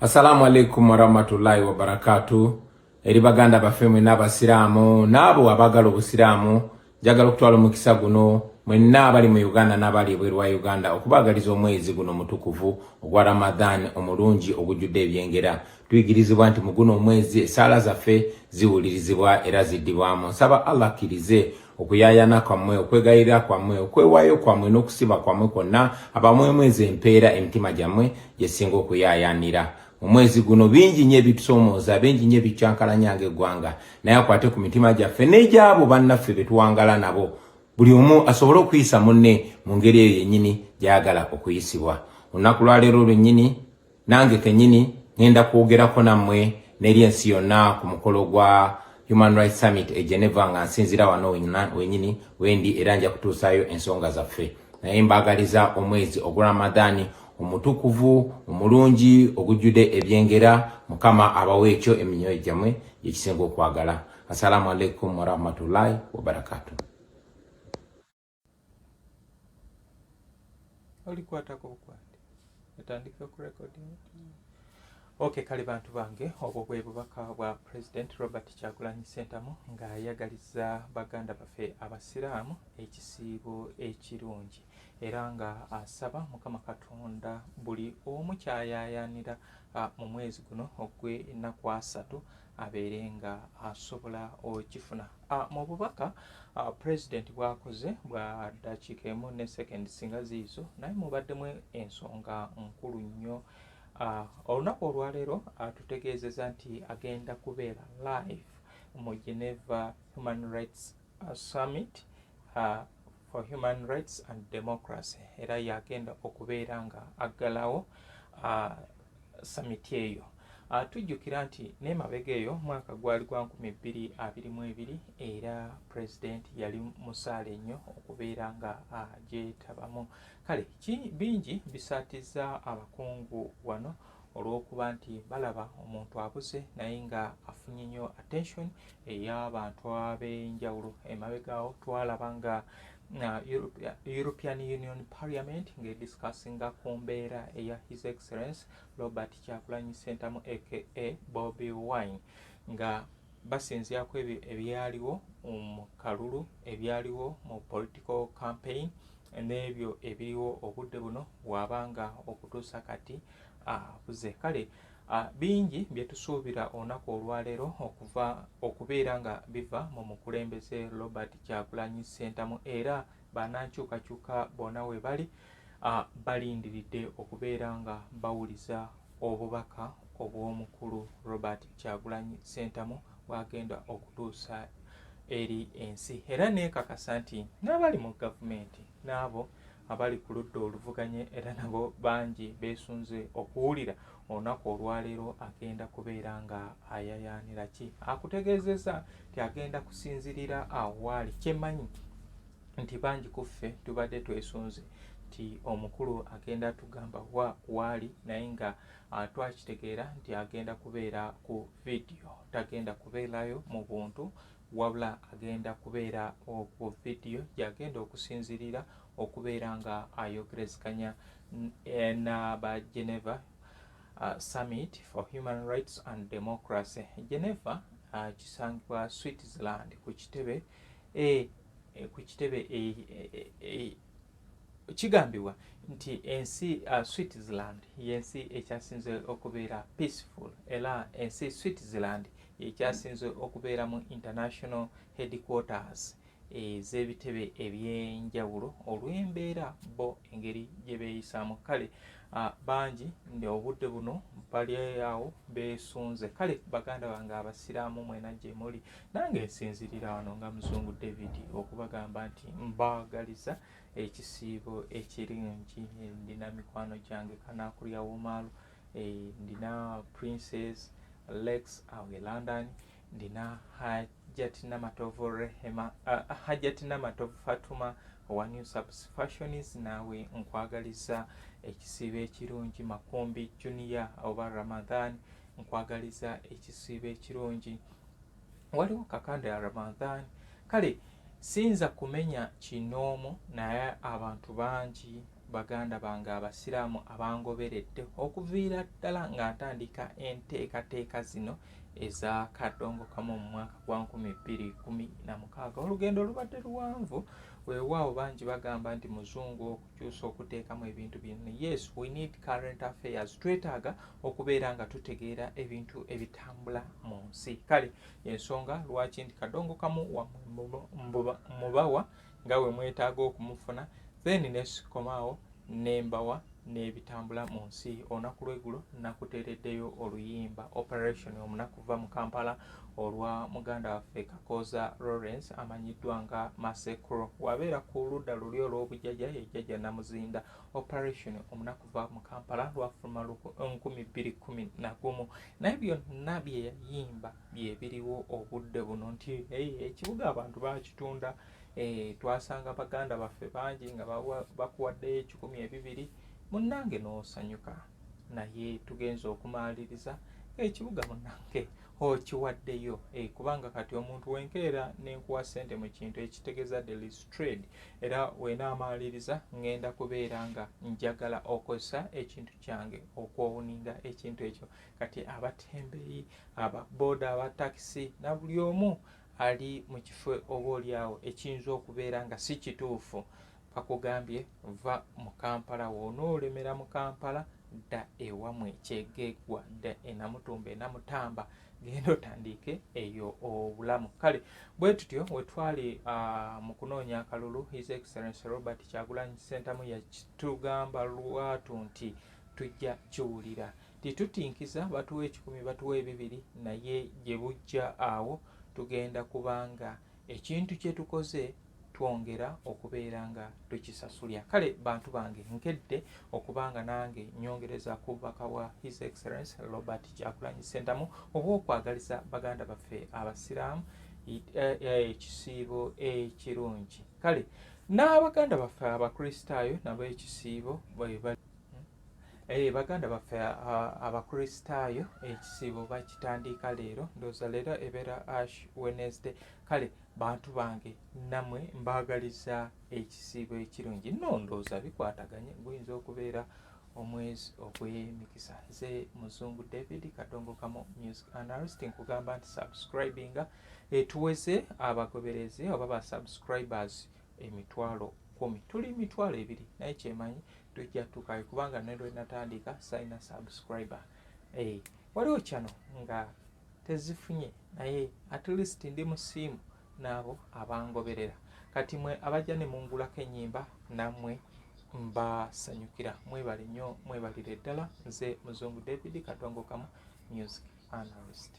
Assalamu alaikum warahmatullahi wabarakatuh eri baganda baffe mwenna abasiraamu n'abo abagala obusiraamu njagala okutwala omukisa guno mwenna abali mu uganda n'abali ebweru wa uganda okubaagaliza omwezi guno mutukuvu ogwa ramadhan omulungi ogujjudde ebyengera tuyigirizibwa nti mu guno omwezi esaala zaffe ziwulirizibwa era ziddibwamu nsaba allah akkirize okuyayana kwammwe okwegayirira kwammwe okwewayo kwammwe n'okusiba kwammwe kwonna abamwemwezi empeera emitima gyammwe gyesinga okuyayanira omwezi guno bingi nyo ebitusomooza bingi nyo ebikyankalanya nga eggwanga naye akwate ku mitima gyaffe n'egyabo bannaffe betuwangala nabo buli omu asobole okuyisa munne mu ngeri eyo yennyini gyayagala okuyisibwa olunaku lwaleero lwennyini nange kenyini ngenda kwogerako nammwe neri ensi yonna ku mukolo gwa Human Rights Summit e Geneva nga nsinzira wano wenyini wendi era nja kutuusaayo ensonga zaffe naye mbaagaliza omwezi ogwa Ramadhani omutukuvu omulungi ogujjude ebyengera mukama abawo ekyo eminyoyo gyamwe gyekisinga okwagala assalamu alaikum warahmatullahi wabarakatuh olikwatako bukwate etandika okurekodinga mm. ok kale bantu bange obwo bwe bubaka bwa president robert kyagulanyi sentamu ng'ayagaliza baganda baffe abasiraamu ekisiibo ekirungi era nga asaba mukama katonda buli omu kyayayanira ah, mu mwezi guno ogw'ennaku asatu abeere nga asobola okifuna. Ah, mu bubaka ah, pulezidenti bwakoze bwa dakiika emu ne sekendi singa ziizo naye mubaddemu ensonga nkulu nnyo. Ah, olunaku olwaleero atutegeezeza nti agenda kubeera live mu Geneva Human Rights Summit uh, for Human Rights and Democracy era yagenda okubeera nga aggalawo uh, samiti eyo uh, tujjukira nti nemabega eyo mwaka gwali gwa nkumi bbiri abiri mu ebiri era pulezidenti yali musaale nnyo okubeera nga agyetabamu uh, kale bingi bisaatiza abakungu wano olw'okuba nti balaba omuntu abuze naye nga afunye nnyo attention ey'abantu ab'enjawulo emabegaawo twalaba nga uh, european union parliament ng'ediscussinga ku mbeera eya his excellence robert kyakulanyi sentamu aka bobi wine nga basinzira ku ebyo ebyaliwo mu kalulu ebyaliwo mu political campaign n'ebyo ebiriwo obudde buno waaba nga okutuusa kati uh, akuze kale bingi bye tusuubira olunaku olwaleero okuva okubeera nga biva mu mukulembeze robert kyagulanyi ssentamu era banankyukakyuka bona we bali balindiridde okubeera nga bawuliza obubaka obw'omukulu robert kyagulanyi ssentamu bwagenda okutuusa eri ensi era nekakasa nti n'abali mu gavumenti n'abo abali ku ludda oluvuganye era nabo bangi beesunze okuwulira olunaku olwaleero agenda kubeera nga ayayaanira ki akutegeezezza nti agenda kusinzirira awo waali kyemanyi nti bangi ku ffe tubadde twesunze nti omukulu agenda tugamba wa waali naye nga ah, twakitegeera nti agenda kubeera ku vidiyo tagenda kubeerayo mu buntu wabula agenda kubeera ku vidiyo gyagenda okusinzirira okubeera nga ayogerezeganya eh, n'aba Geneva uh, Summit for Human Rights and Democracy. Geneva uh, kisangibwa Switzerland ku kitebe e, e, ku kitebe e, e, e, e, kigambibwa nti ensi uh, Switzerland y'ensi ekyasinze okubeera peaceful era ensi Switzerland ye kyasinze okubeera mu International Headquarters ez'ebitebe eby'enjawulo olw'embeera bo engeri gye beeyisaamu kale bangi obudde buno bali awo beesunze kale baganda bange abasiraamu mwena gye muli nange nsinzirira wano nga muzungu david okubagamba nti mbaagaliza ekisiibo ekirungi ndina mikwano gyange kanaakulya womaalu eh, ndina princess lex awo e london ndina hajat namatovu rehema uh, hajat namatovu fatuma owa new subs fashions naawe nkwagaliza ekisiibo ekirungi makumbi junior oba ramadan nkwagaliza ekisiibo ekirungi waliwo kakanda ya ramadan kale siyinza kumenya kinoomu naye abantu bangi Baganda bange Abasiraamu abangoberedde okuviira ddala nga ntandika enteekateeka zino eza Kadongokamu mu mwaka gwa nkumi bbiri kumi na mukaaga olugendo lubadde luwanvu weewaawo bangi bagamba nti muzungu okukyusa okuteekamu ebintu bino yes we need current affairs twetaaga okubeera nga tutegeera ebintu ebitambula mu nsi kale ensonga lwaki nti kadongo kamu mubawa wa nga bwe mwetaaga okumufuna then nesikomaawo nembawa n'ebitambula mu nsi olunaku lweggulo nakuteereddeyo oluyimba operation omunaku va mu kampala olwa muganda waffe kakooza lawrence amanyiddwa nga masekro wabeera ku ludda luli olw'obujjaja yejjaja namuzinda operation omunaku va mu kampala lwafuluma 2 naye byonna byeyayimba byebiriwo obudde buno nti ekibuga abantu bakitunda eh, twasanga baganda baffe bangi nga bakuwaddeyo ekikumi ebibiri munnange n'osanyuka naye tugenza okumaliriza ekibuga munnange okiwaddeyo eh, kubanga kati omuntu wenkeera nenkuwa sente mu kintu ekitegeeza delistrade era wenaamaliriza ngenda kubeera nga njagala okozesa ekintu kyange okwowuninga ekintu ekyo kati abatembeyi aba boda aba takisi na buli omu ali mu kifo oba olyawo ekiyinza okubeera nga si kituufu bakugambye va mu kampala woonoolemera mu kampala dda ewamwe ekyegeggwa dda enamutumba enamutamba genda otandiike eyo obulamu kale bwe tutyo wetwali ah, mu kunoonya akalulu his excellence robert kyagulanyi sentamu yakitugamba lwatu nti tujja kiwulira Tetutinkiza batuwa ekikumi batuwa ebibiri naye gye bujja awo tugenda kuba nga ekintu kye tukoze twongera okubeera nga tukisasulya kale bantu bange nkedde okuba nga nange nyongereza ku bubaka bwa his excellence robert kyakulanyi sentamu oba okwagaliza baganda baffe abasiraamu e, e, ekisiibo ekirungi kale n'abaganda baffe abakristaayo nabo ekisiibo bwebali hmm? Eh, baganda baffe abakristaayo ekisiibo bakitandiika leero ndooza leero ebeera ash wednesday kale bantu bange namwe mbaagaliza ekisiibo ekirungi no ndooza bikwataganye guyinza okubeera omwezi ogw'emikisa nze muzungu david kadongokamu music analyst nkugamba nti subscribinga etuweze abagoberezi oba ba subscribers emitwalo kumi tuli mitwalo ebiri naye kyemanyi tujja tukayo kubanga ne lwe natandika sayina subscriber hey, eh, waliwo kyano nga tezifunye naye at least ndi musiimu naabo abangoberera kati mwe abajja ne mungulako enyimba namwe mbasanyukira mwebale nnyo mwebalire ddala nze muzungu david katongokamu music analyst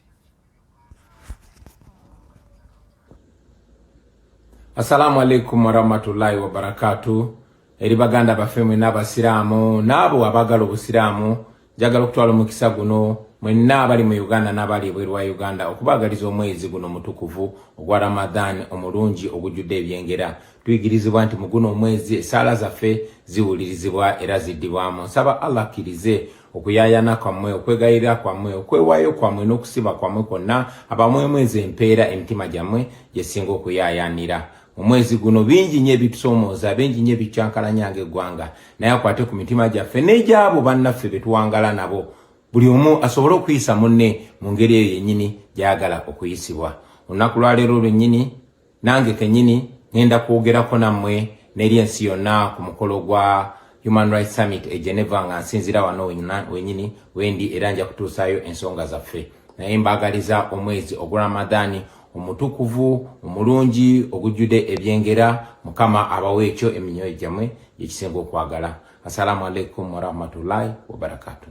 Assalamu alaikum warahmatullahi wabarakatuh eri baganda baffe mwenna abasiraamu n'abo abaagala obusiraamu njagala okutwala omukisa guno mwenna abali mu uganda n'abali ebweru wa uganda okubaagaliza omwezi guno mutukuvu ogwa ramadan omulungi ogujjudde ebyengera tuyigirizibwa nti mu guno omwezi esaala zaffe ziwulirizibwa era ziddibwamu nsaba allah akkirize okuyayana kwammwe okwegayirira kwammwe okwewayo kwammwe n'okusiba kwammwe kwonna abamwemwezi empeera emitima gyammwe gyesinga okuyayanira mu mwezi guno bingi nyo ebitusomooza bingi nyo ebikyankalanya nga eggwanga naye akwate ku mitima gyaffe n'egyabo bannaffe betuwangala nabo buli omu asobole okuyisa munne mu ngeri eyo yennyini gyayagala okuyisibwa olunaku lwaleero lwennyini nange kenyini ngenda kwogerako nammwe n'eri ensi yonna ku mukolo gwa Human Rights Summit e Geneva nga nsinzira wano wenyini wendi era nja kutuusaayo ensonga zaffe naye mbaagaliza omwezi ogwa Ramadhani omutukuvu omulungi ogujjude ebyengera mukama abawo ekyo eminyoyo gyamwe gyekisinga okwagala assalamu alaikum warahmatullahi wabarakatuh